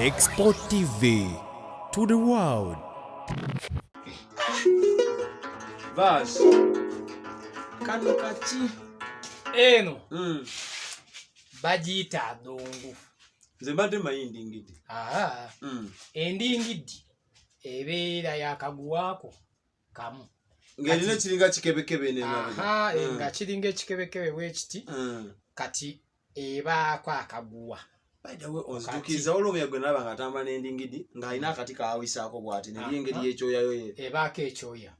Expo TV to the world. Bas. Kano kaki. Eno. Mm. Bajita adongo. Nze mbadde mayi ndingidi. Aha. Mm. Endingidi ebeera yakaguwako kamu. Ngerina kiringa kikebekebe ne mabega. Aha, mm. nga kiringa ekikebekebe bwe kiti. Mm. Kati ebaako akaguwa ozitukiza olumya gwe nalaba nga atamba n'endingidi ng'alina akati kaawisaako bwati naye engeri ah, ah. yekyoyayo ye ebaako ekyoya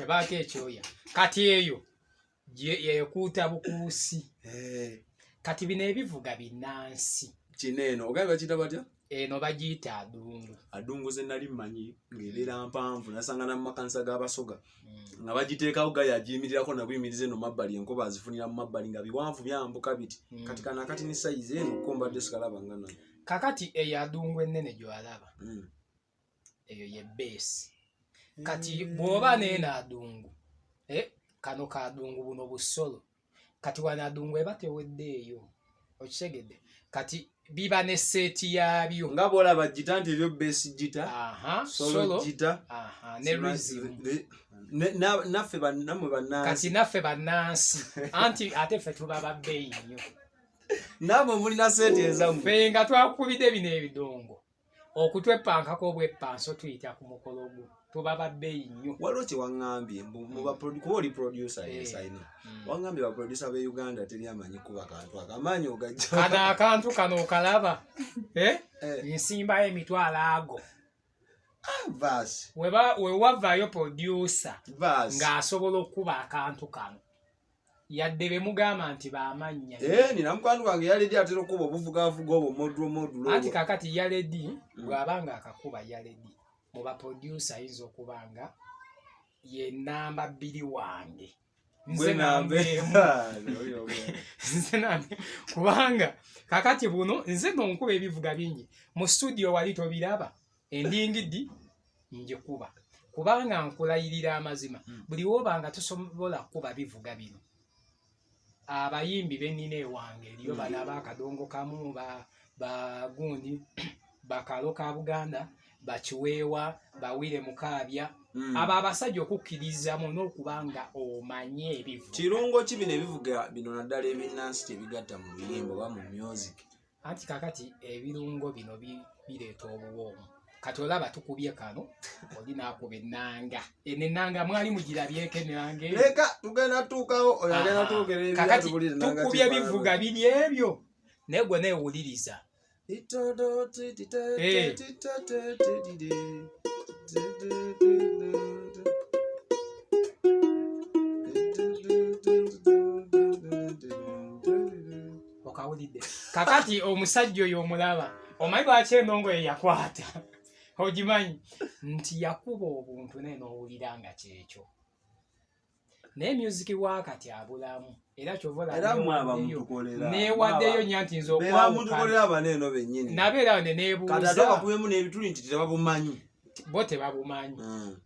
ebaako ekyoya kati eyo yekuuta bukuusi eh. kati bino ebivuga binansi kino eno ogambye bakiyita batya eno bagiyita adungu adungu ze nali mmanyi ng'ebeera mpanvu nasanga na mumakanisa g'abasoga hmm. nga bagiteekawo ga yagiyimirirako nabuyimiriza eno mabbali enkuba azifunira mu mabbali nga biwanvu byambuka biti hmm. kati kana kati ne sayizi eno ko mbadde sikalaba nga nayo kakati eyo adungu ennene gy'alaba hmm. eyo ye beesi kati mm. bwoba neeno adungu eh, kano kadungu buno busolo kati wano adungu eba teweddeeyo okitegedde kati biba ne seeti yaabyo nga bwolaba jita nti ebyo beesi jita solo jita ne rizimu naffe namwe banansi kati naffe banansi anti ate ffe tuba babbeeyi nnyo namwe mulina seeti ezamu fe nga twakubidde bino ebidongo okutwepankako obwepanso tuyita ku mukolo ogwo tuba babbeeyi nnyo waliwo kyewaŋambye mm. kuba oli producer eh. yesaino mm. waŋambye baproducer be uganda teri amanyi kuba kantu akamaanyi ogajja kano akantu kano okalaba eh? eh. nsimbayo emitwalo ago ah, wewavaayo producer ng'asobola okukuba akantu kano yadde bemugamba nti bamannya eh, nina mukwano gwange yaledi atera okuba obuvugavuga obwo modulo modulo anti kakati yaledi mm. bwaba nga akakuba yaledi mu baprodusa ayinza okuba nga ye namba bbiri wange nze nambe kubanga kakati buno nze nonkuba ebivuga bingi mu studio wali tobiraba endingidi njikuba kubanga nkulayirira amazima hmm. buli woba nga tusobola kuba bivuga bino abayimbi benina ewange eriyo bana hmm. bakadongo kamu bagundi bakalo ka buganda bakiweewa bawire mukaabya hmm. abo abasajja okukkirizamu n'okuba nga omanye ebivu kirungo ki bino ebivuga bino naddala ebinnansi tebigatta mu luyimba oba mu music anti kakati ebirungo bino bireeta obuwoomu kati olaba tukubye kano oli nakuba enanga eno enanga mwali mugirabyeko enanga leka tugenda tuukawo oyo agenda twogera kakati tukubye bivuga biri ebyo naye gwe neewuliriza okawulidde kakati omusajja oyo omulaba omanyi lwaki enongo ye yakwata ogimanyi nti yakuba obuntu naye nowulira nga kyekyo naye musiki wakati abulamu era kyovanewaddeyo nya nti nznabeera ne nebuuzabakubemu nebituli nti tebabumanyi bo tebabumanyi hmm.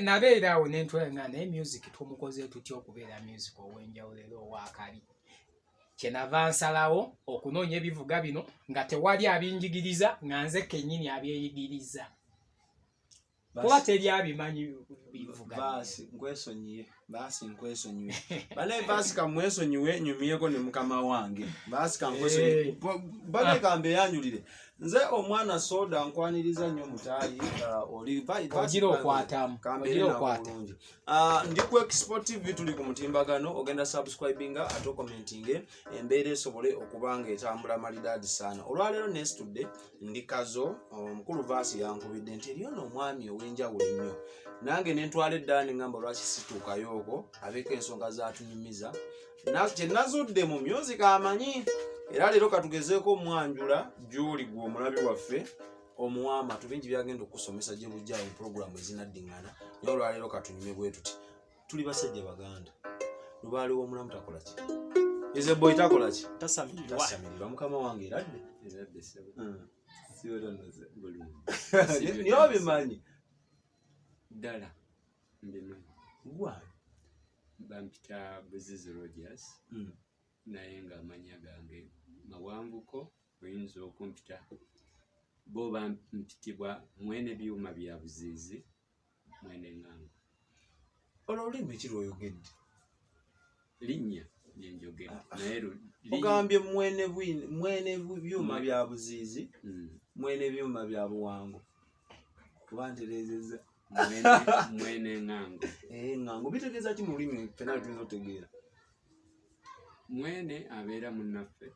nabeeraawo nentwala nga naye music tumukoze tutya okubeera music owenjawulo era owakali kyenava nsalawo okunoonya ebivuga bino nga tewali abinjigiriza nga nze kennyini abyeyigiriza kuba teri abimanyi bivugaasi nkwesonyiye baasi nkwesonyiwe banaye baasi kamwesonyiwe nyumyeko ne mukama wange baasi kankwesonyiwe bane kambe yanjulire nze omwana soda nkwaniriza nnyo mutaayi uh, oligira okwatamu Uh, ndi ku export tv tuli ku mutimbagano ogenda subscribinga ate okomentinge embeera esobole okuba nga etambula malidaadi saana olwaleero nesitudde ndi kazo omukulu um, vaasi yankubidde nti eriyo noomwami ow'enjawulo ennyo nange nentwala eddaani ngamba lwaki situukayo oko abeeko ensonga zatunyumiza kyenazudde mu myuzi kamanyi era leero katugezeeko omwanjula gyoli gwe omulabi waffe omuwa amatu bingi byagenda okukusomesa gye bujja mu pulogulaamu ezinaddingana naye olwaleero katunyume bwe tuti tuli basajja baganda lubaali w'omulamu takola ki eze boy takola ki tasamirirwa mukama wange eradde hmm. niye obimanyi ddala mbimanyi gwa bampita buzizi rogers hmm. naye nga amanya gange mawanvuko oyinza okumpita bo bampitibwa mwene byuma bya buziizi mwene nganga olwo olulimi ki lwoyogedde linnya lyenjogera ah, ah. naye ogambye mwene mwene byuma bya buziizi hmm. mwene byuma bya buwango kuba ntereezeza mwene ngango eh, ngango bitegeeza ki mu lulimi fena tuyinza otegeera mwene abeera munnaffe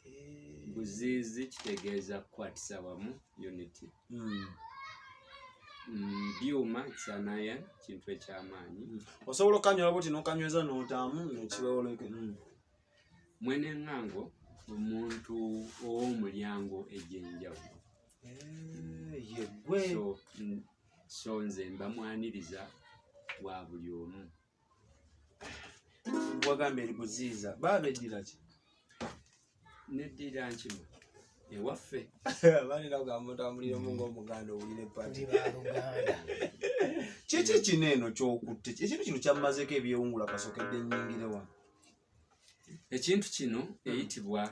eh. buziizi kitegeeza kukwatisa wamu unity hmm. mm, byuma kyanaya kintu ekyamaanyi hmm. osobola okanywera buti nokanyweza notaamu nekiwewoleke hmm. mwene ngango omuntu owomulyango egyenjawulo eh, yegwe so nze mbamwaniriza wa buli omu wagamba eri buziiza baaba eddira ki neddira nkima ewaffe balina kugamba otambulire mu ngaomuganda owulire pati kiki kino eno kyokutte ekintu kino kyammazeeko ebyewungula kasokedde nyingire wano ekintu kino eyitibwa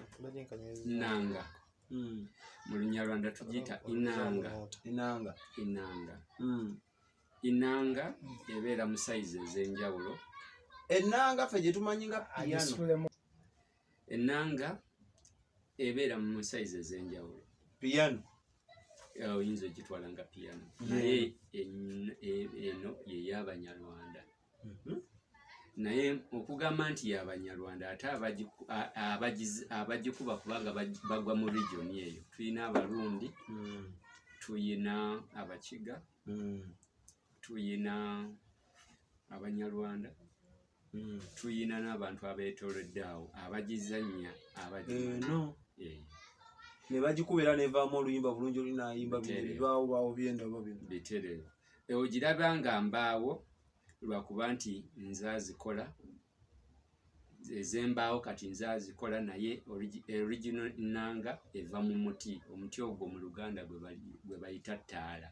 nanga hmm. mu lunyarwanda tugiyita inanga inanga inanga hmm. Enanga ebeera mu sayizi ez'enjawulo. Enanga ffe gye tumanyi nga piyano. Enanga ebeera mu sayizi ez'enjawulo. Piyano oyinza ogitwala nga piyano naye eno yey'Abanyarwanda. mhm. naye okugamba nti yabanyarwanda ate abagikuba kubanga bagwa mu region eyo tulina abarundi mm. tuyina abakiga mm. tuyina abanyarwanda mm. tuyina n'abantu abetoledde awo abagizanya abagino eh, nebagikubera nevamu oluyimba bulungi olinayimba bino bibaawo baawo byendaba bino biterere ogiraba nga mbaawo lwakuba nti nze azikola ezembaawo kati nze azikola naye original nanga eva mu muti omuti ogwo mu luganda gwe bayita ttaala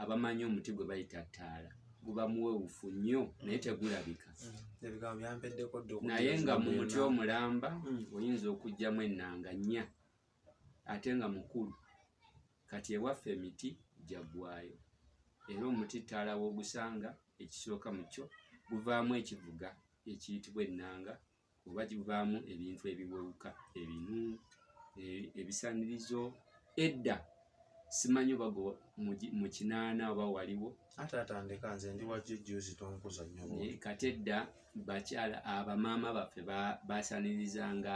abamanyi omuti gwe bayita ttaala guba muwewufu nnyo naye tegulabika mm. naye nga mu muti omulamba mm. oyinza okugyamu enanga nnya ate nga mukulu kati ewaffe emiti gyaggwayo era omuti ttaala w'ogusanga ekisooka mu kyo guvaamu ekivuga ekiyitibwa ennanga oba givaamu ebintu ebiwewuka ebinu e, ebisanirizo edda simanyi oba mu kinaana oba waliwo ate atandika nze ndi wajjujjuzi tonkuza nyo kati edda bakyala abamaama baffe basanirizanga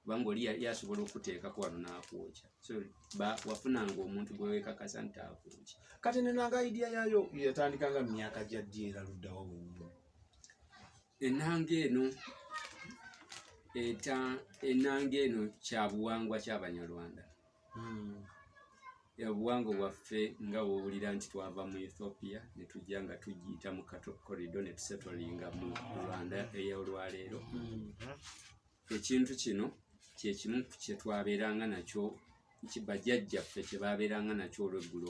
kubanga oli yali asobola okuteekako wano n'akwokya so wafunanga omuntu gwe weekakasa nti akwokya kati nenanga idiya yaayo yatandika nga myaka gya ddi era luddawa wenyini enanga eno eta enanga eno kya buwangwa ky'abanyarwanda hmm. obuwangwa bwaffe nga wowulira nti twava mu ethiopia ne tujja nga tugiyita mu kato corridor ne tusetolinga mu rwanda ey'olwaleero hmm. ekintu kino kyekimu kyetwabeeranga nakyo nti bajjajjaffe kye baabeeranga nakyo olweggulo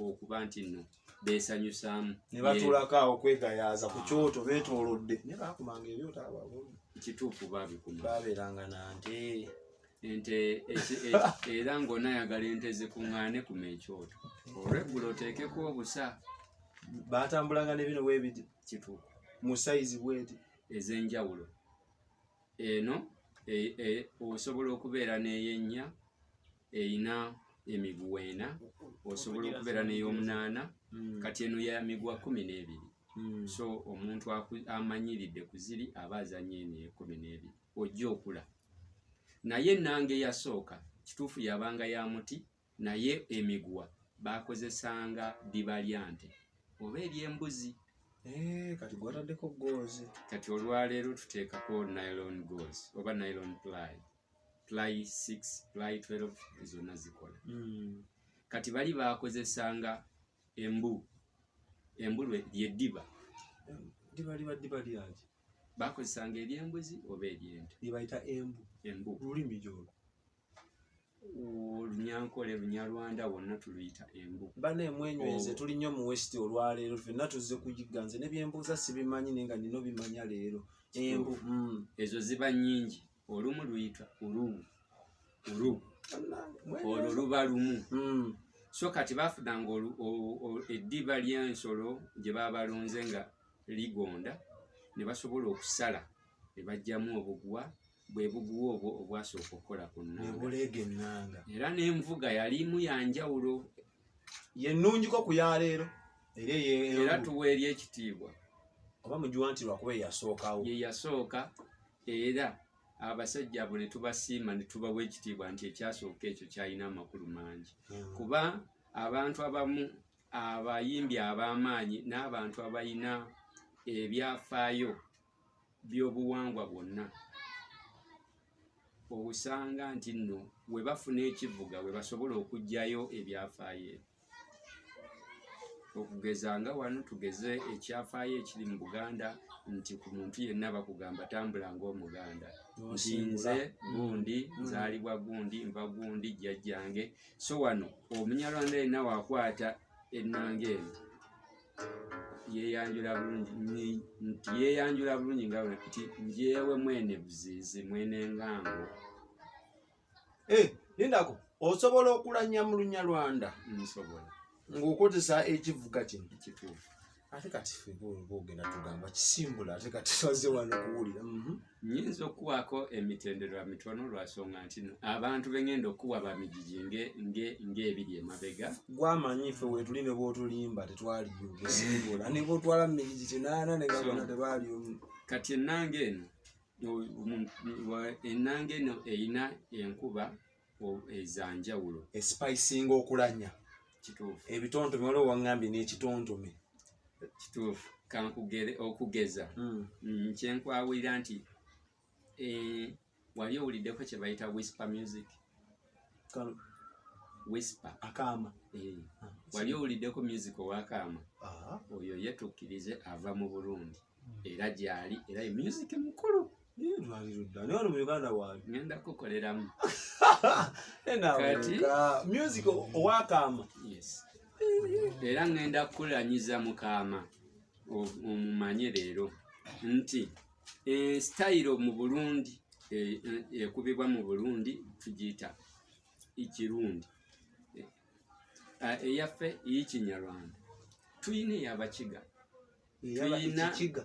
okuba nti nno beesanyusaamu ne batuulako awo kwegayaaza ku kyoto beetoolodde naye baakumanga ebyota ababona kituufu baabikuma baabeeranga na nte ente era ng'onaayagala ente zikuŋŋaane kuma ekyoto olweggulo oteekeko obusa baatambulanga ne bino weebiri kituufu mu sayizi bweti ez'enjawulo eno e, e, osobola okubeera n'eyennya erina emiguwa ena osobola okubeera n'eyomunaana hmm. kati eno ya miguwa kumi n'ebiri hmm. so omuntu amanyiridde ku ziri aba azanya eno ekumi n'ebiri ojja okula naye ennanga eyasooka kituufu yabanga ya muti Naye emiguwa baakozesanga ddiba lya nte oba ery'embuzi. Eh, kati gwataddeko goozi. Kati olwaleero tuteekako nylon goozi oba nylon ply ply six ply twelve zonna zikola. Hmm. Kati bali baakozesanga embu embu lyeddiba. Ddiba liba ddiba lyaki? Baakozesanga ery'embuzi oba ery'ente. Lye bayita embu. Embu. Lulimi gyolwo. olunyankole lunyarwanda wonna tuluyita embu bana emwenywenze oh. tuli nnyo mu west olwaleero fenna tuzze kuyigga nze nebyembuuza sibimanyi naye nga nina obimanya leero embu mm. ezo ziba nyingi olumu luyita ulu ulu olwo luba lumu mm. so kati bafudanga eddiba lyensolo gye babalonze nga ligonda ne basobola okusala ne bajjamu obugwa bwe buguwa obwo obwasooka okukola ku nnabuleega ennanga era n'envuga yalimu ya njawulo yennungiko ku ya leero era tuwa eri ekitiibwa oba mugiwa nti lwakuba eyasookawo ye yasooka era abasajja abo ne tubasiima ne tubawa ekitiibwa nti ekyasooka ekyo kyalina amakulu mangi hmm. kuba abantu abamu abayimbi ab'amaanyi n'abantu abalina ebyafaayo by'obuwangwa bwonna osanga nti nno we bafuna ekivuga we basobola okuggyayo ebyafaayo ebyo okugeza nga wano tugeze ekyafaayo ekiri mu buganda nti ku muntu yenna bakugamba tambula ngaomuganda nsinze gundi mm. nzaalibwa gundi nva gundi jjajjange so wano omunyarwanda yenna wakwata ennanga eno yeyanjula bulungi nti yeyanjula bulungi nga bwe nti njewe mwene buzizi mwene ngango eh, lindako osobola okulanya mu lunya lwanda nsobola ng'okozesa ekivuga kino ekituufu ate kati fe bwogenda tugamba kisimbula ate kati twaze wano kuwulira mhm. Nyinza okuwaako emitendera mitono lwasonga nti abantu bengenda okuwa bamijiji ng'ebiri emabega gwamanyi fe wetuli nebwotulimba tetwaliyogera nebwotwala mumijiji kinaana negabona tebali kati enanga eno enanga eno erina enkuba ezanjawulo esipayisinga okulanya kituufu ebitontome waliwo owaŋŋambye n'ekitontome kituufu kankugere okugeza hmm. mm, kyenkwawulira nti eh, wali owuliddeko kye bayita whisper music whisper akaama eh, ah, wali owuliddeko music owakaama ah. oyo ye tukkirize ava mu burundi era gyali era ye music mukulu ngenda kukoleramu music owakaama era ngenda kukulanyiza mukaama omumanye leero nti esitayiro mu burundi e, e, ekubibwa mu burundi tugiyita ekirundi eyaffe eyikinyarwanda tuyina eyabakiga tulina ekiga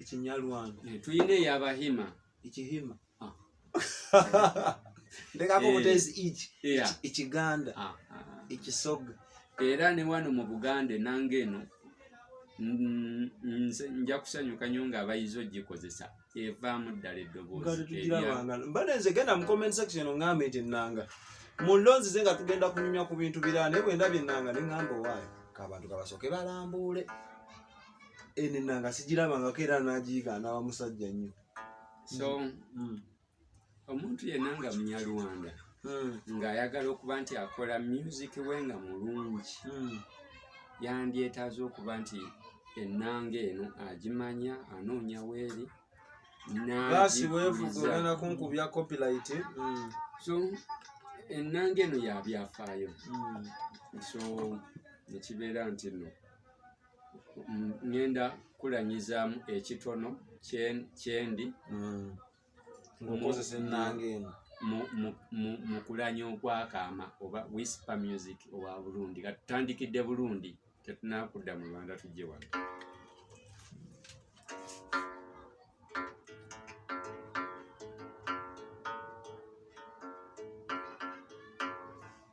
ekinyalwanda eh, tulina eyabahima ekihima ah. ndekako eh. butezi iki ekiganda ah, ah. ekisoga era ne wano mu buganda enanga eno nja kusanyuka nyo nga abayizi ogikozesa evaamu ddala eddoboozimbade nze genda mu comment section ongambe nti enanga mulonzi ze nga tugenda kunyumya ku bintu birala naye bwendabye enanga nengamba owaayo kabantu kabasoke balambuule eno enanga sigirabangako era nagiyiga anawa musajja nnyo so mm. Mm. omuntu yenna nga munyarwanda hmm. ng'ayagala okuba nti akola music we nga mulungi hmm. yandyetaaza okuba nti ennanga eno agimanya anoonya weeri baasi weevuga ogenda kunkubya copyright hmm. so ennanga eno yabyafaayo so nekibeera nti no ngenda kulanyizaamu ekitono kyendi ngokozesa ennanga eno mu kulanya okwakaama oba wispa music owa burundi nga tutandikidde burundi tetunakudda mu rwanda tujje wano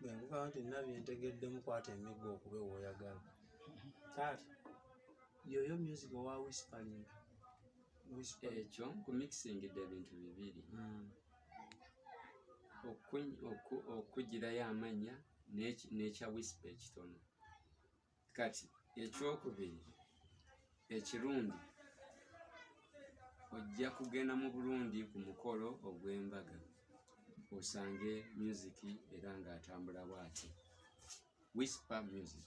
bwe nkugamba nti nina bye ntegeddemu kwata emiggo okube w'oyagala taata yoyo music owa whispering ekyo nkumixingidde ebintu bibiri hmm. okugirayo amannya n'ekya whisper ekitono kati ekyokubiri ekirungi ojja kugenda mu bulungi ku mukolo ogw'embaga osange musiki era ng'atambula bwati whisper music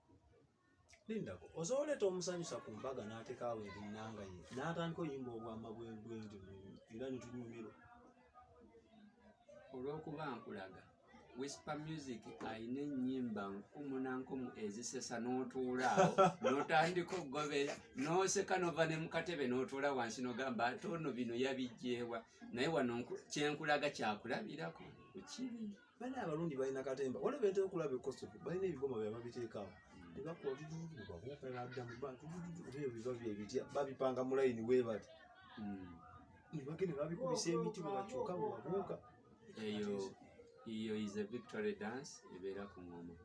lindako oza oleeta omusanyusa ku mbaga n'atekaawo ebinnanga ye n'atandika oyimba obwama bwebwendi era nitunyumirwa olw'okuba nkulaga whisper music alina ennyimba nkumu na nkumu ezisesa n'otuulaawo n'otandika okugobera n'oseka nova ne mukatebe n'otuula wansi n'ogamba ate ono bino yabijjeewa naye wano kyenkulaga kyakulabirako kukiri bana abarundi balina katemba wala bentera okulaba ekosoke balina ebigoma bye babiteekawo mm. tebakuwa bibuububabuuka nadda mu bantu ebyo biba bye bitya babipanga mu layini wee bati mm. ne bagenda babikubisa emiti bwe bakyuka bwe babuuka eyo eyo is a victory dance ebeera ku ngoma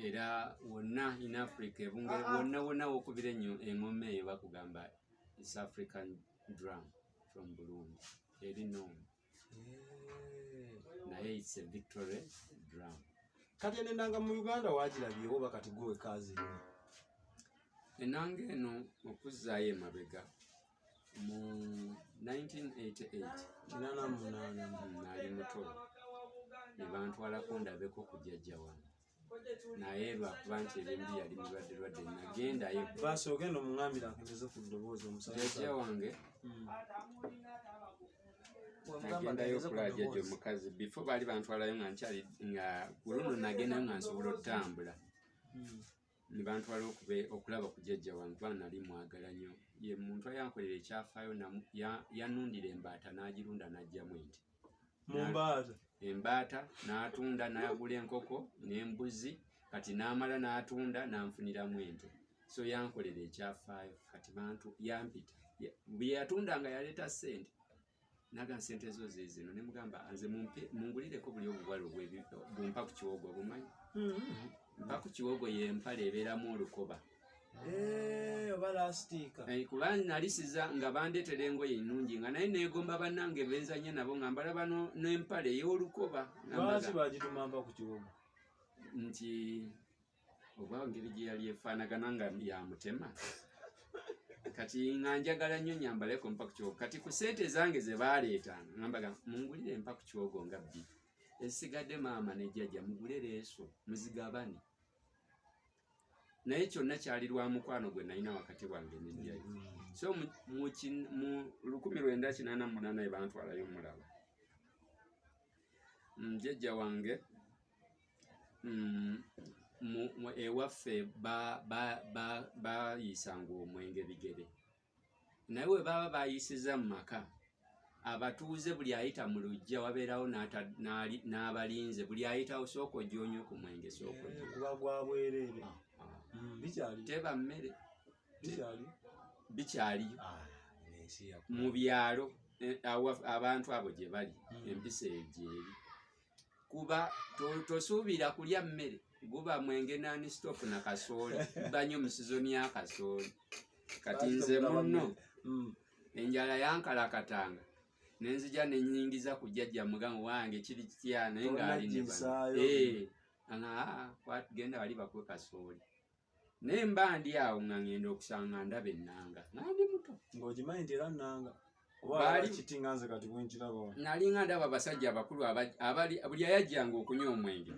era wonna in africa ebungere ah, ah. wonna wonna wokubira enyo engoma eyo bakugamba is african drum from burundi eri nomu naye it's a victory drum kati eno enanga mu uganda wagirabyewo oba kati gwe wekaazirina enanga eno okuzzaayo emabega mu 1988 nali muto nebantwalako ndabeko kujajja wange naye lwakuba nti ebyembi yali mulwadde lwadde nagendayo basi ogenda omungambira akendeze ku ddoboozi omusajja wange hmm. nagendayo okulaba jajja omukazi bifo baali bantwalayo nga nkyali nga kuluno nagendayo nga nsobola okutambula hmm. nebantwala okulaba ku jajja wange kuba nali mwagala nnyo ye muntu ayankolera ekyafaayo yanundira embaata n'agirunda n'ajjamu enti embaata n'atunda n'agula enkoko n'embuzi kati n'amala n'atunda n'anfuniramu ente so yankolera ekyafaayo kati bantu yampita bye yatundanga yaleeta ssente naga nsente zo zezino ne mugamba nze mumpe mungulireko buli obuwala obwebumpa ku kiwogo obumanyi mm-hmm. mpa ku kiwogo yempale ebeeramu olukoba mm -hmm. Eh, oba lasitiika eh, kuba nalisiza nga bandeetera engoye ennungi nga naye neegomba bannange benzanye nabo nga mbalaba n'empale ey'olukoba lwaki bagitumamba ku kiwoma nti oba ngeri gye yali efaanagana nga ya mutema kati nga njagala nnyo nyambaleko mpaku kyogo kati ku sente zange ze baaleeta ngambaga mungulire empaku kyogo nga bbi esigadde maama ne jjajja mugule leeso muzigabane naye kyonna kyali lwa mukwano gwe nalina wakati wange nenjayo mm. so mu lukumi lwenda kinaana munaana ebantwalayo mulaba mm, jjajja wange mm, ewaffe bayisanga omwenge bigere naye we baba bayisiza mu maka abatuuze buli ayita mu lujja wabeerawo n'abalinze buli ayitawo sooka ojyonywe ku mwenge sookakuba eh, gwabwereere ah, ah. mm, teba mmere bikyaliyo ah, mu byalo eh, abantu abo gye bali mm. empisa eyo gyeri kuba tosuubira to kulya mmere guba mwenge nani stop na kasooli banyo mu sizoni ya kasooli kati nze munno mm. enjala yankalakatanga nenzija nenyingiza ku jjajja mugamu wange kiri kitya naye ng'ali ne bano eh, ana ah, kwatugenda wali bakwe kasooli naye mba ndi awo nga ngenda okusanga ndaba ennanga naye ndi muto ng'ogimanyi nti era nnanga nali nga ndaba abasajja abakulu abali buli ayajjanga okunywa omwenge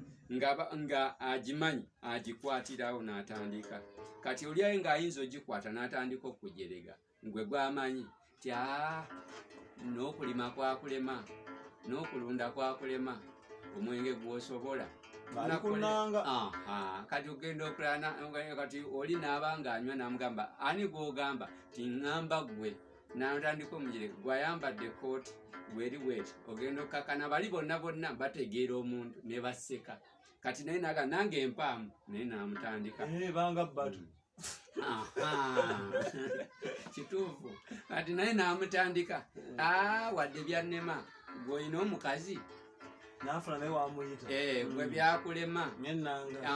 nga agimanyi agikwatirawo n'atandika kati olyaye ng'ayinza ogikwata n'atandika okujerega Gwe gwamanyi tya n'okulima kwakulema n'okulunda kwakulema omwenge gwosobola kati ogenda okulakati oli naaba ngaanywa namugamba ani gwogamba tiŋamba gwe natandika omugire gwayambadde kooti gweri bweti ogenda okukakana bali bonna bonna bategeera omuntu nebaseka kati naye naga nange empaamu naye namutandika eh, kituufu kati naye namutandika ah, wadde byannema gweolina omukazi nafuna naye wamuyita eh, gwe mm. byakulema ngenanga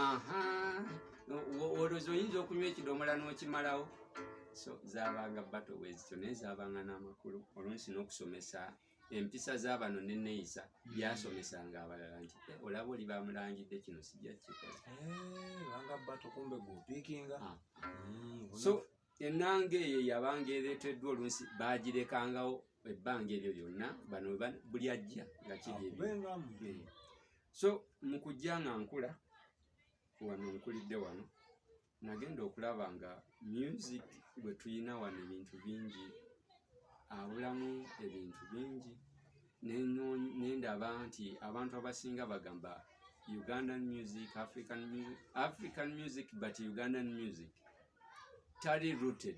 olwozi oyinza okunywa ekidomola n'okimalawo so zabanga bato bwezityo naye zabanga n'amakulu olunsi n'okusomesa empisa z'abano n'enneeyisa hmm. byasomesanga abalala nti eh, olaba oli bamulangidde kino sijja kikola eh, ah. hmm, so ennanga eyo yabanga ereeteddwa oluusi baagirekangawo ebbanga eryo lyonna bano buli ajja nga kiri eh. so mu kujja nga nkula wano nkulidde wano nagenda okulaba nga music gwe tulina wano ebintu bingi abulamu ebintu bingi nendaba nti abantu abasinga bagamba ugandan music african, african music but ugandan music tali rooted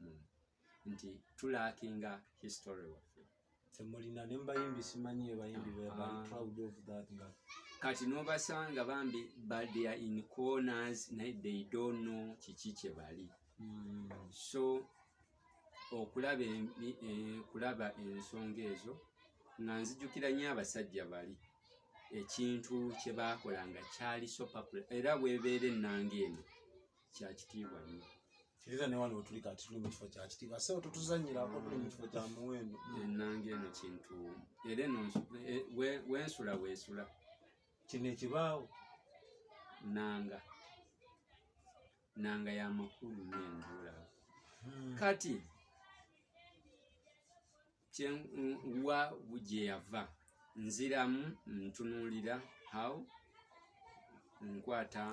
mm. nti tulaakinga history waffe temulina ne mubayimbi simanyi ebayimbi ah. kati nobasanga bambi badea in corners naye they don't know kiki kyebali mm. so okulaba eh, kulaba ensonga ezo nga nzijukira nyo abasajja bali ekintu kyebakola nga kyali sopapula era webeera ennanga eno kya kitiibwa nnyo era ne wano wetuli kati tuli mu kifo kya kitiibwa sebo tetuzanyirako tuli mu kifo kya muwendo enanga eno kintu era eno e- wensula wesula kino ekibaawo nanga nanga yamakulu nenjula hmm. kati kyenwa gyeyava nziramu ntunuulira how nkwata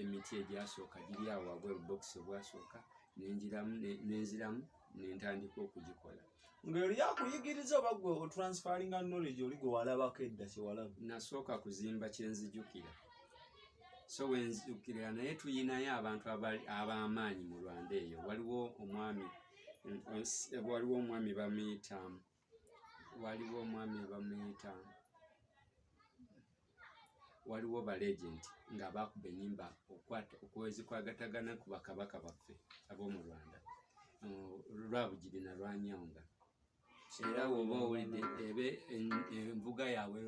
emiti egyasooka giri awo wabweru bokisi obwasooka nengiramu nenziramu nentandika okugikola ngaeri yakuyigiriza oba gwe otransferinga knowledge oli gwe walabako edda kyewalaba nasooka kuzimba kyenzijukira so wenzijukirira naye tuyinayo abantu abamaanyi mu rwanda eyo waliwo omwami waliwo omwami bamuyita waliwo omwami bamuyita waliwo balegenti nga bakuba enyimba okwezikwagataganna ku bakabaka baffe ab'omu rwanda lwabugiri nalwanyawunga era woba owulidde ebe envuga yaabwe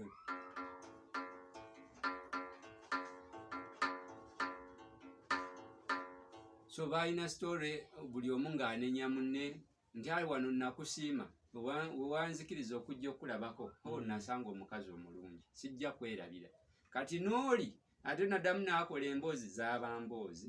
so baalina sitore buli omu ng'anenya munne nti ali wano nakusiima wewanzikiriza okujja okukulabako o oh, nasanga omukazi omulungi sijja kwerabira kati n'oli ate nadamu naakola emboozi zaaba mboozi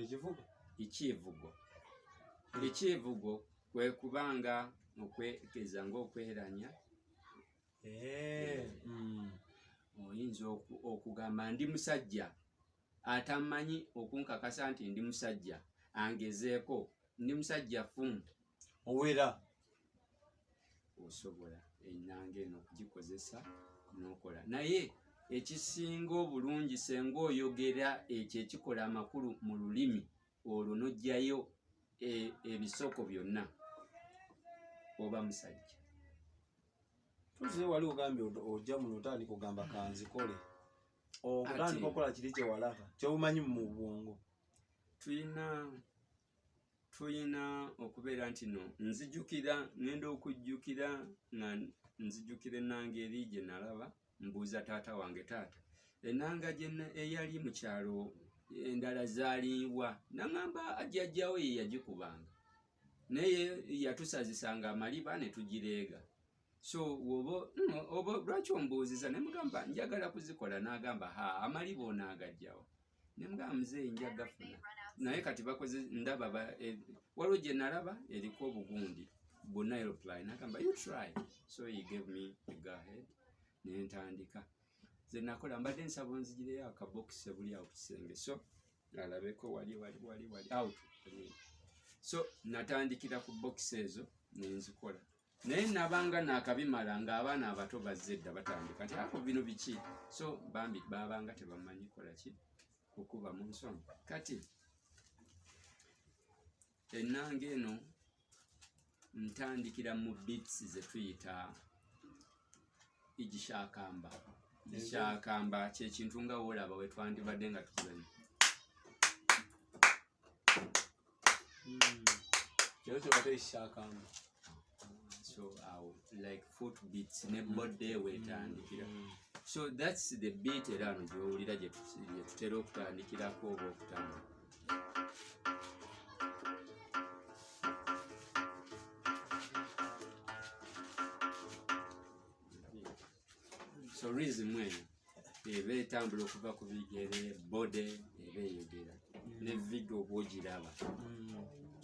ekivugo ekyivugo ekyivugo kwe kubanga okwekeza ngaokweranya hmm. oyinza okugamba ndi musajja atamanyi okunkakasa nti ndi musajja angezeeko ndi musajja fumu owera osobola enanga eno okugikozesa nokola naye ekisinga obulungi senga oyogera ekyo ekikola amakulu mu lulimi olwo nojjayo e, ebisoko byonna oba musajja tuziye wali ogambye ojja muno otandika ogamba kanzikole otandika okola kiri kyewalaka kyobumanyi mu bwongo tuyina tulina okubeera nti no nzijukira ngenda okujjukira nga nzijukira enanga eri gye nalaba mbuuza taata wange taata enanga gyena eyali mu kyalo endala zaliibwa naŋamba ajjajjawo ye yagikubanga naye yatusazisanga amaliba ne tugireega so woba oba lwaki ombuuziza ne mugamba njagala kuzikola n'agamba ha amali boonaagajjawo ne mugamba muzeeyi nja gafuna naye kati bakoze ndaba e, waliwo gye nalaba eriko obugundi bu nileply nagamba you try so he gave me a go ahead ne ntandika ze nakola mbadde nsaba onzigireyo akabokisi ebuli awo ku kisenge so alabeko wali wali wali wali out so natandikira ku bokisi ezo nenzikola naye nabanga nakabimala nga abaana abato bazze dda batandika nti ako bino biki so bambi babanga tebamanyi kola ki kukuba mu nsonga kati ennanga eno ntandikira mu bits zetuyita igishakamba igishakamba kyekintu nga wolaba wetwandibadde nga tukulanyi kyokyo hmm. batekikyakamba so awo like foot beats ne hmm. body wetandikira hmm. so thats the beat era ano gyowulira gyetutera okutandikirako oba okutambula so reason mwena eba etambula okuva ku bigere bode eba eyogera ne video oba ogiraba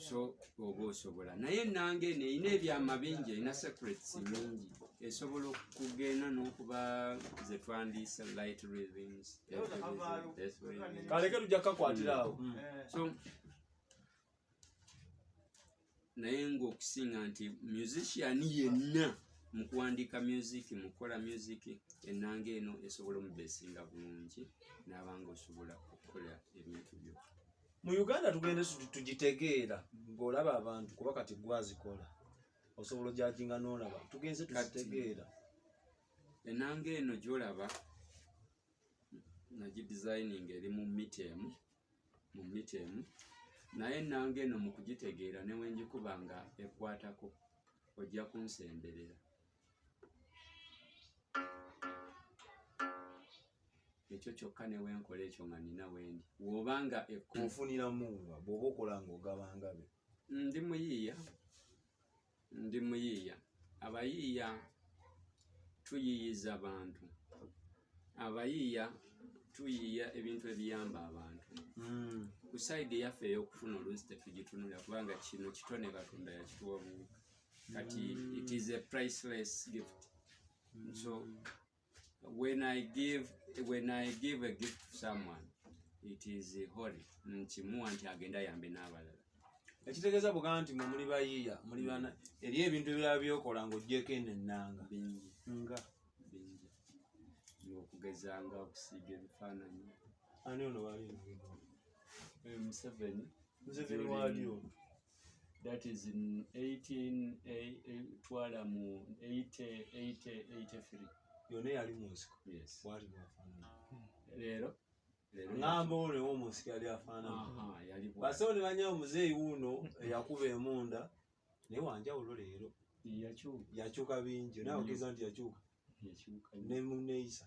so oba osobola naye nange neyina ebyama bingi erina secrets mingi esobola okugenda n'okuba zetwandiisa light rhythms kaleke tujja kakwatira awo mm. so naye ngaokusinga nti musician yenna mukuwandiika music mukukola music enanga eno esobola omubesinga bulungi nabanga osobola okukola ebintu byo mu uganda tugende tugitegeera ngaolaba abantu kuba kati gwazikola osobola ojajinga nolaba tugenze tuzitegeera enanga eno gyolaba nagidizayininga eri mu mita emu mu mita emu naye nanga eno mu kugitegeera ne wengikuba nga ekwatako ojja kunsemberera ekyo kyokka ne wenkola ekyo nga nina wendi woba nga ekunfuniramu nga bwoba okola nga ogabangabe ndi muyiiya Ndi muyiiya. Abayiiya tuyiiyiza bantu. Abayiiya tuyiiya ebintu ebiyamba abantu. Hmm. Ku sayidi eyaffe ey'okufuna oluusi tetugitunula kubanga kino kitone Katonda yakituwa buwi. Kati hmm. it is a priceless gift. Hmm. So when I give when I give a gift to someone it is holy nkimuwa nti agenda yambe n'abalala ekitegeeza buga nti mwe muli bayiiya muli bana eri ebintu ebirala byokola ng'ogyeko eno ennanga bingi nga bingi ng'okugeza nga okusiiga ebifaananyi ani ono wali museveni museveni wali ono that is 18 twala mu 8883 yona yali munsiko bwali bwafanana leero ngamba olewo munsiko yali afananabasawo ne banyawo muzeeyi wuuno eyakuba emunda naye wanjawulo leero yakyuka bingi naye ogeza nti yakyuka nemuneyisa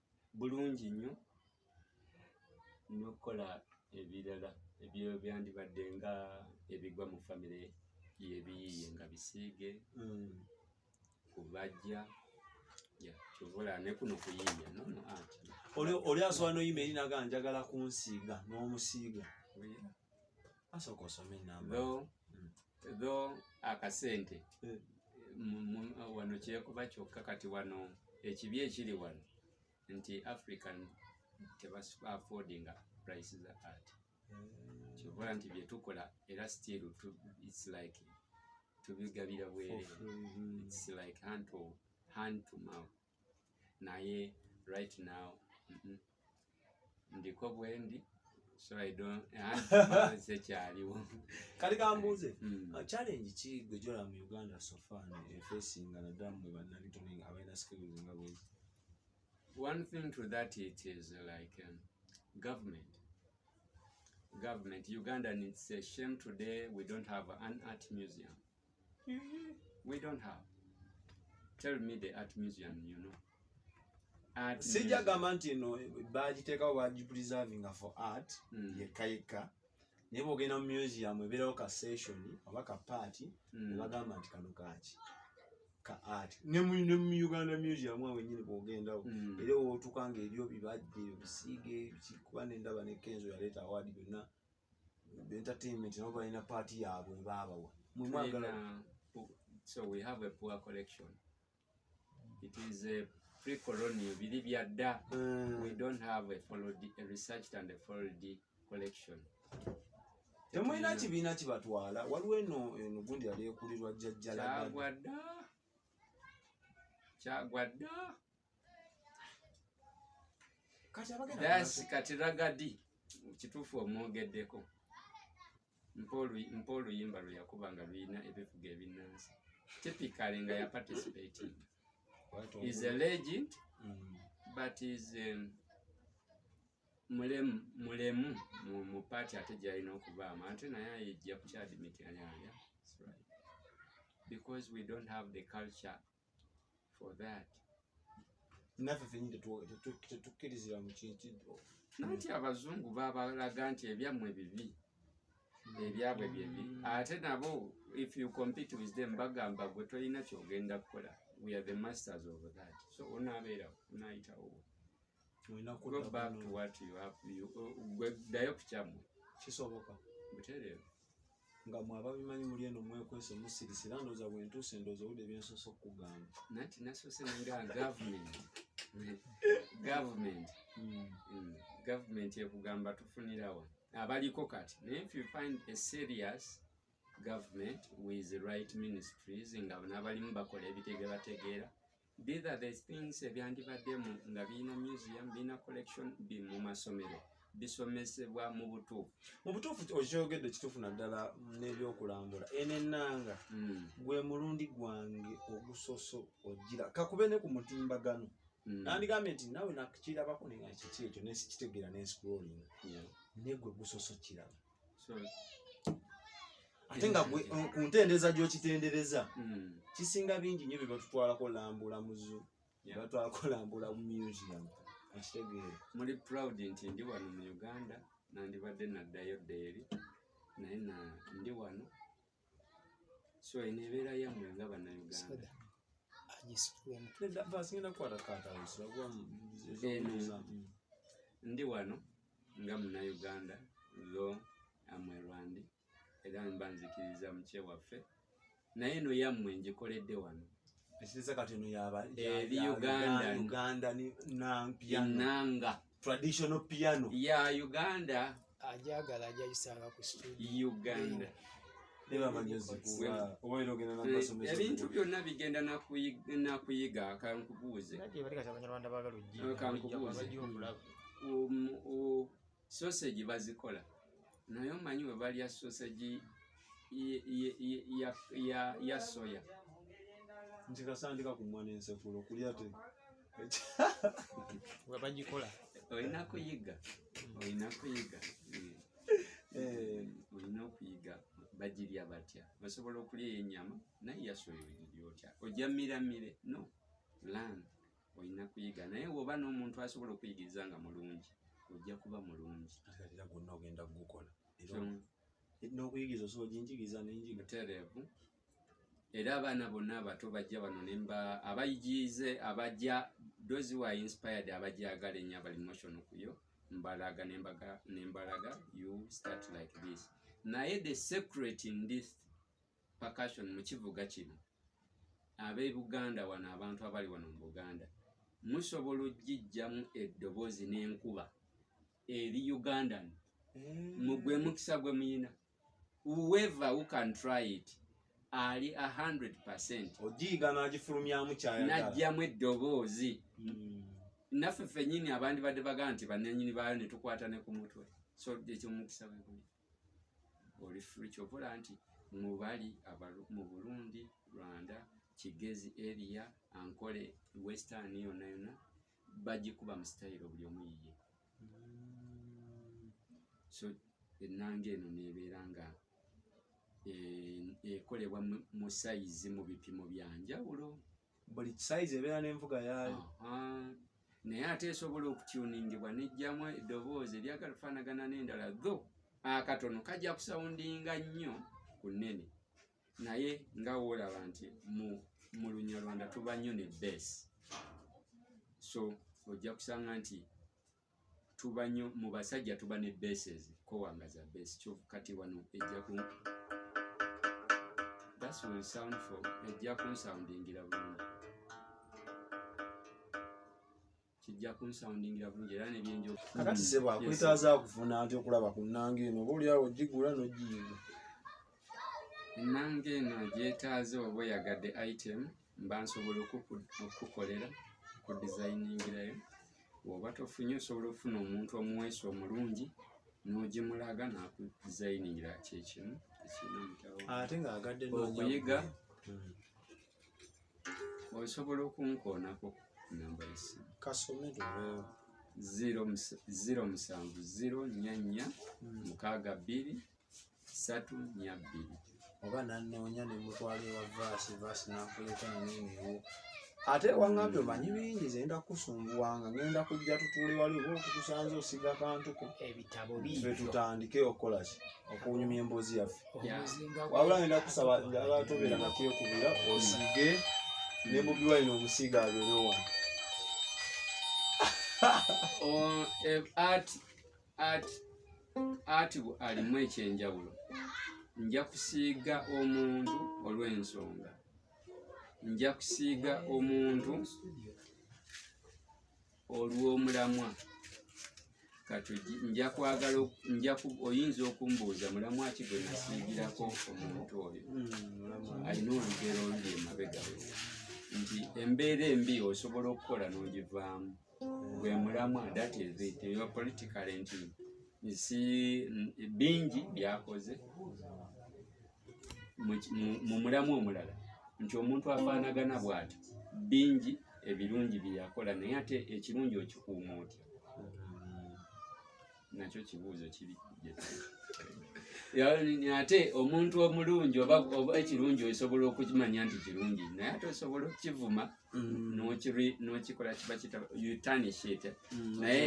bulungi nnyo n'okukola ebirala ebyo byandibadde nga ebigwa mu famire yebiyiye nga bisiige mm. kubajja kyovola nekuno kuyiiya nono anti oli asobola noyima eri naga njagala kunsiiga n'omusiiga tho akasente eh. wano kyekuba kyokka kati wano ekibi ekiri wano nti african tebaaffordinga price za art eh. kyobola nti byetukola era still its like tubigabira bwere its like hand to, hand to mouth naye right now mm -mm. ndiko bwendi so i don't anze kyaliwo kali kambuze mm. uh, challenge ki gwe jola mu uganda so far ne facing na damu ne banani to ninga abena skills nga bwe one thing to that it is like um, government government uganda needs a shame today we don't have an art museum we don't have tell me the art museum you know art sija gamba nti no bagitekawo bagi preservinga for art mm. yekka yekka naye bwogenda mu museum ebeerawo ka session oba ka party mm. nebagamba nti kano kaki ka art ne mu ne mu Uganda museum awo nyine bwogendawo mm. era wotuka nga ebyo bibajje bisiige kikuba ne ndaba ne kenzo yaleta award byonna entertainment nabo balina paati yaabwe baabawa mwe mwagala so we have a poor collection it is a pre colonial biri bya dda mm. we don't have a followed a researched and a followed collection temulina kibiina kibatwala waliwo eno eno gundi yali ekulirwa jjajjalaagwa dda kyagwa dda daasi kati ragadi kituufu omwogeddeko mpa oluyimba lwe yakuba nga lulina ebivuga ebinnansi typically nga ya participating is a legend mm. but is um, mulemu mulemu mu mu party ate gyalina okubaamu ate naye ayejja ku kyadimityanyanya because we don't have the culture for that naffe fenyi tetukkirizibwa mu kintu nanti abazungu babalaga nti ebyammwe bibi ebyabwe byebi ate nabo if you compete with them bagamba gwe tolina kyogenda kukola we are the masters of that so onaabeerawo onaayitawo ddayo ku kyamu kisoboka butereevu nga mwababimanyi muli eno mwekwese musirise era ndooza bwentuuse ndooza owudde byensoose okukugamba nanti nasoose nga gavumenti gavumenti hmm. hmm. gavumenti ekugamba tufunirawa abaliko kati naye if you find a serious government with right ministries nga nabalimu bakola ebitegebategeera These are the things ebyandibaddemu nga birina museum birina collection bi mu masomero bisomesebwa mu butuufu mu butuufu okyogedde kituufu naddala n'ebyokulambula eno ennanga hmm. gwe mulundi gwange ogusoso ogira kakube ne ku mutimbagano hmm. nandigambye nti nawe nakirabako nekiki ekyo nesikitegeera nensikulolinga negwe gusoso kiraba ate nga mm, ku ntendereza gyokitendereza mm. kisinga bingi nyo byebatutwalako lambula muzu batwalako lambula museum okitegeere muli proud nti ndi wano mu uganda nandibadde naddayo ddeeri naye ndi wano so eno ebeera yammwe nga bannayuganda ndi wano nga munayuganda lo amwerwandi era mba nzikiriza mukye waffe naye eno yammwe ngikoledde wano eri uganda enanga traditional piano ya uganda ajagala ajayisanga ku studio uganda ebintu byonna bigenda nakuyiga kankubuuze sosegi um, bazikola naye omanyi webalya sosegi ya soya ntikasandika kumwa nensekulo kulya te nga bagikola olina kuyiga olina kuyiga eh. olina okuyiga bagirya batya basobola okulya enyama naye yasoya ogirya otya ojja miramire no lan olina kuyiga naye woba n'omuntu asobola okuyigiriza nga mulungi ojja kuba mulungi era gonna ogenda kugukola n'okuyigiriza osobola oginjigiriza nenjiga tereevu era abaana bonna abato bajja bano nemba abayigiize abajja those who are inspired abajagala ennyo abali motion kuyo mbalaga nembaga nembalaga you start like this naye the secret in this percussion mu kivuga kino ab'ebuganda wano abantu abali wano mu buganda musobola okugijjamu eddoboozi n'enkuba eri ugandan eh. mugwe mukisa gwe muyina whoever who can try it ali 100% ojiiga n'agifulumyamu kyayagala n'ajjamu eddoboozi hmm. naffe ffennyini abandi badde baga nti bannanyini baayo ne tukwata ne ku mutwe so ekyomukisa weguli oli fri kyokola nti mubali mu burundi rwanda kigezi eria ankole western yonna yonna bagikuba mu sitayiro buli omu yiye so ennanga eno neebeera nga e, ekolebwa mu sayizi mu bipimo bya njawulo buli sayizi ebeera n'envuga yaayo naye ate esobola okutyuningibwa nejjamu eddoboozi eryagala okufaanagana n'endala tho akatono kajja kusawundinga nnyo ku nnene naye nga wolaba nti mu mu lunyarwanda tuba nnyo ne base so ojja kusanga nti tuba nnyo mu basajja tuba ne bases kowanga za base kyovu kati wano ejja ku that's will sound for ejja kunsoundingira bulungi kijja kunsoundingira bulungi era nebyenjo kakati sebo akwetaaza akufuna ati okulaba ku nnanga eno oba oliawo ogigula nogiyiga ennanga eno gyetaaze oba oyagadde item mba nsobola okukukolera ku dizayiningirayo woba tofunye osobola okufuna omuntu omuweesa omulungi nogimulaga nakudizayiningira kyekimu ekirina mutawo ate ngaagadde okuyiga hmm. osobola okunkoonako namba yesimu kasome luweewo ziro musanvu ziro nya nya hmm. mukaaga bbiri satu nya bbiri oba nanoonya nemutwala ewa vaasi vaasi nakuleta nenewo ate wangambye hmm. omanyi bingi zenda kukusumbuwanga ngenda kujja tutuule wali oba okukusanza osiga kantuko ebitabo bife tutandike okukolaki okunyumya emboozi yaffe wabula ngenda kusaba njagala tobeera nakyekubira osiige ne bobi wine omusiiga abeere wano ati alimu ekyenjawulo nja kusiiga omuntu olw'ensonga nja kusiiga omuntu olw'omulamwa kati nja kwagala nja oyinza okumbuuza mulamu aki gwe nasiigirako omuntu oyo hmm, alina olugero oluli emabega we nti embeera embi osobola okukola n'ogivaamu gwe mulamwa that is it your political nti nsi bingi byakoze mu mulamu omulala nti omuntu afaanagana bw'ati bingi ebirungi bye yakola naye ate ekirungi okikuuma otya nakyo kibuuzo kiri ate omuntu omulungi oba ekirungi osobola okukimanya nti kirungi naye ate osobola okukivuma mm. nokikola kiba kitanishit mm, naye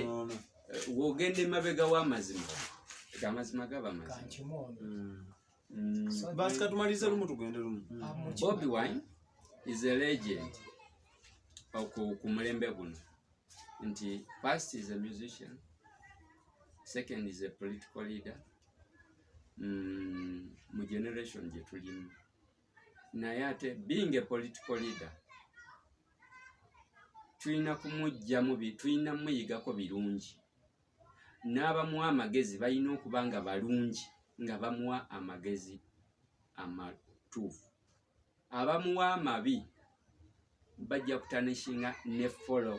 wogenda emabega w'amazima amazima gaba mazima mm. mm. basi katumalize lumu tugende lumu mm. ah, bobi wine is a legend ku mulembe guno nti first is a musician second is a political leader mu generation gye tulimu naye ate being a political leader tulina kumugyamu tulina muyigako birungi n'abamuwa amagezi balina okuba nga balungi nga bamuwa amagezi amatuufu abamuwa amabi bajja kutanishinga ne follow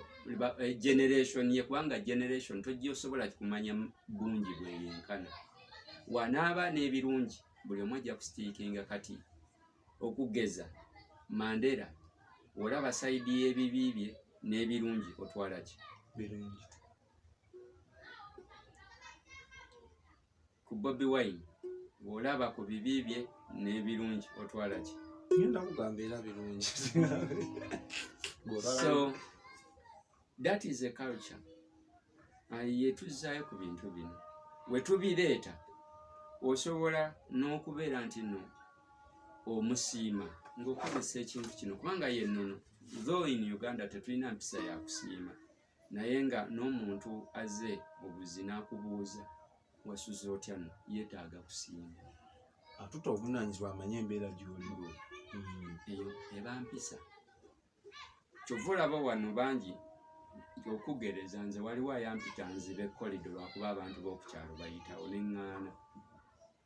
eh, generation ye kubanga generation tojja osobola kumanya bungi bweyenkana wanaaba n'ebirungi buli omu ajja kusitiikinga kati okugeza mandera olaba saidi y'ebibi bye n'ebirungi otwala ki birungi ku bobi wine bw'olaba ku bibi bye n'ebirungi otwala ki ngenda kugamba era birungi so that is a culture yetuzzaayo ku bintu bino wetubireeta osobola n'okubeera nti no omusiima ng'okozesa ekintu kino kubanga yennono though in uganda tetulina mpisa ya kusiima naye nga n'omuntu aze obuzi n'akubuuza wasuze otya no yeetaaga kusiima atuta obuvunaanyizibwa amanye embeera gyoliwo hmm. eyo eba mpisa kyova olaba wano bangi okugereza nze waliwo ayampita nzibe kolido lwakuba abantu b'okukyalo bayitawo neŋŋaana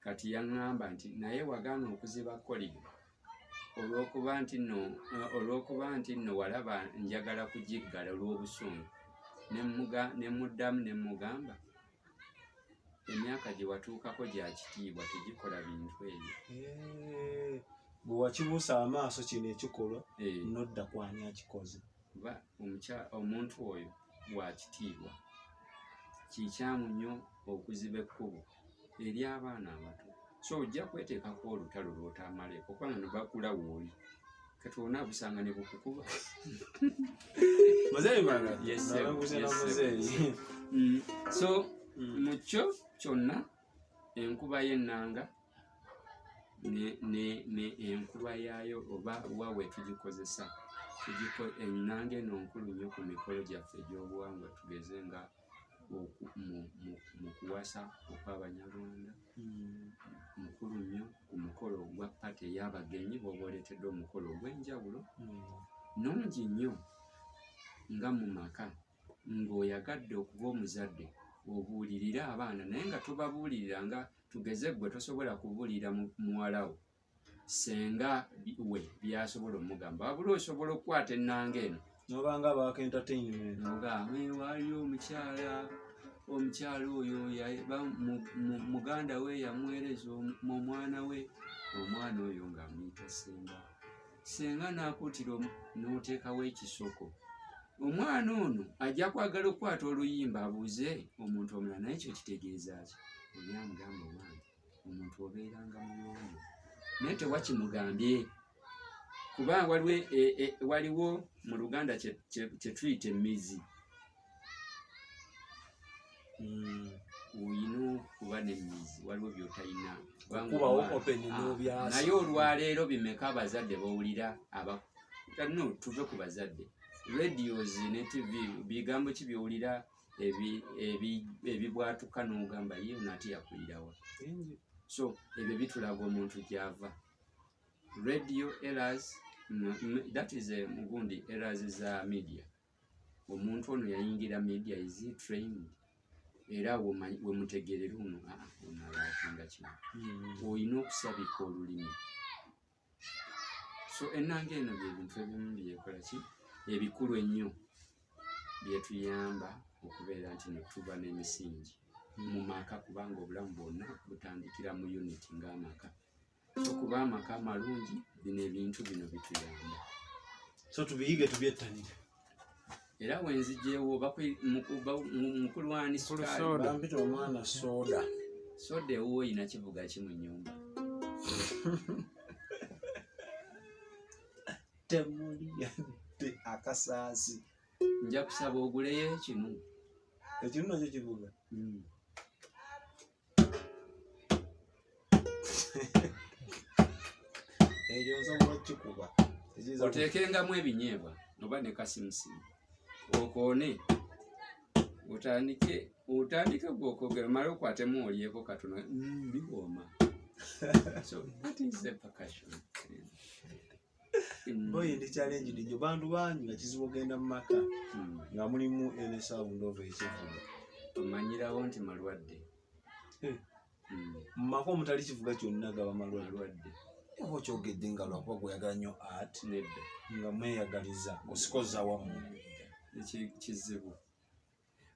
kati yaŋŋamba nti naye wagaana okuziba kolido olw'okuba nti nno olw'okuba nti nno walaba njagala kugiggala olw'obusungu ne muddamu ne mugamba emyaka gye watuukako gya kitiibwa tegikola bintu ebyo bwe wakibuusa amaaso kino ekikolwa eh. nodda kwani akikoze kuba omuntu oyo wakitiibwa kikyamu nnyo okuziba ekkubo eri abaana abato so ojja kweteekako olutalo lwotamaleeko kubanga nebakula wooli kati olina abusanga ne bukukuba mm. so mm. mukyo kyonna enkuba y'ennanga enkulwa yaayo oba wa we tugikozesa ennanga eno nkulu nnyo ku mikolo gyaffe egy'obuwangwa tugeze nga mu kuwasa okw'abanyarwanda hmm. mukulu nnyo ku mukolo ogwa pate ey'abagenyi bwoba oletedde omukolo ogw'enjawulo hmm. nungi nnyo nga mu maka ng'oyagadde okuba omuzadde obuulirire abaana naye nga tobabuulirira nga tugeze gwe tosobola kubuulira muwala wo senga we byasobola omugamba wabula osobola okukwata ennanga eno nobanga baaka entertainment ogamba waliyo omukyala omukyala oyo muganda we yamuweereza omwana we omwana oyo ng'amuyita senga senga n'akuutira n'oteekawo ekisoko omwana ono ajja kwagala okukwata oluyimba abuuze omuntu omulala naye ekyo kitegeeza ki olyamugamba owange omuntu obeeranga muyonjo naye tewakimugambye kuba waliwo e, e, waliwo mu luganda kyetuyita emizi mm, olina okuba nemizi waliwo byotalina ah, naye olwaleero bimeka abazadde bawulira no tuve ku bazadde radios ne tv bigambo ki byowulira ebibwatuka nogamba ye nate yakulirawa so ebyo bitulaga omuntu gyava radio eras that is a mugundi eras za media omuntu ono yayingira media is he trained era wemutegerera ono ah, ah, ono alakinga kino hmm. olina okusabika olulimi so enanga eno byebintu ebimu byekola ki ebikulu ennyo byetuyamba okubeera nti netuba n'emisingi hmm. mu maka kubanga obulamu bwonna butandikira mu unit ng'amaka okuba amaka amalungi bino ebintu bino bituyamba so tubiyige tubyettanire era wenzijewo mukulwani sukaalibampita omwana soda soda ewuwo oyina kivuga ki mu nyumba temuli yadde akasaasi nja kusaba oguleyo ekinu ekinu nakyo kivuga hmm. oteekengamu ebinyeebwa oba ne kasimusimu okoone otandike otandike gwe okwogera omale okwatemu olyeko katono mm, biwooma so that is the percussion Mm. boyi ndi challenge ndi bantu bangi nga kizibu ogenda mu maka mm. nga mulimu ene sound of ekivuga omanyirawo nti malwadde eh. mm. mu maka omutali kivuga kyonna gaba malwadde oba okyogedde nga lwakuba gweyagala nnyo art nga mweyagaliza osikoza wamu kizibu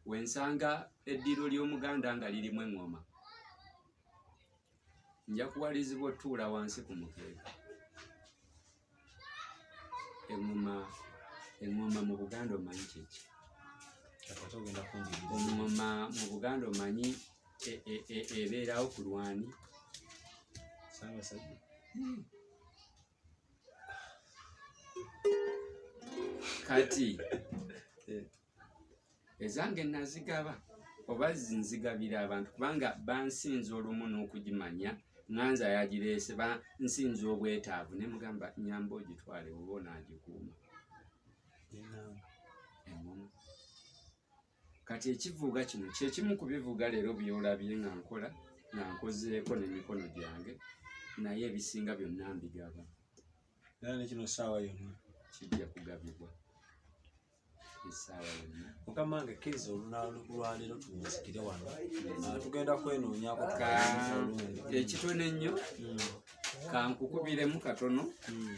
wensanga eddiro ly'omuganda nga lirimu eŋŋoma nja kuwalizibwa otuula wansi ku mukeeka eŋŋoma eŋŋoma mu buganda omanyi kyeki eŋŋoma mu buganda omanyi e, e, e, ebeerawo ku lwani hmm. kati ezange nazigaba oba zinzigabira abantu kubanga bansinza olumu n'okugimanya nganze ayagireese bansinza obwetaavu ne mugamba nyamba ogitwale oba onaagikuuma kati ekivuuga kino kyekimu ku bivuuga leero byolabye nga nkola nga nkozeeko n'emikono gyange naye ebisinga byonna mbigaba era nekino saawa yonna kijja kugabibwa mukama nge kkiriza olunalwaliro tunsikire wano ah, tugenda kwenoonyako ekitono ennyo hmm. kankukubiremu katono hmm.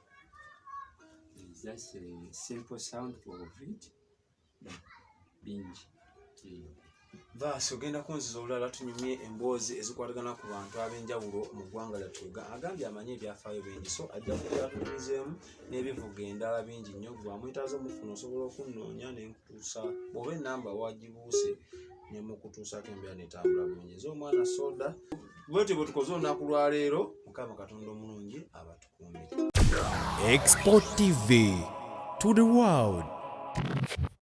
It's just a simple sound for it, but bingi Vaasi ogenda kunziza olulala tunyumye emboozi ezikwatagana ku bantu ab'enjawulo mu ggwanga lyattu agambye amanyi ebyafaayo bingi so ajja kukyatulizeemu n'ebivuga endala bingi nnyo gwamwetaaza omufuna osobola okunnoonya ne nkutuusa bw'oba ennamba wagibuuse ne mukutuusaako embeera netambula bulungi eza omwana soda bwetyo bwe tukoze olunaku lwaleero mukama katonda omulungi abatu Export TV to the world.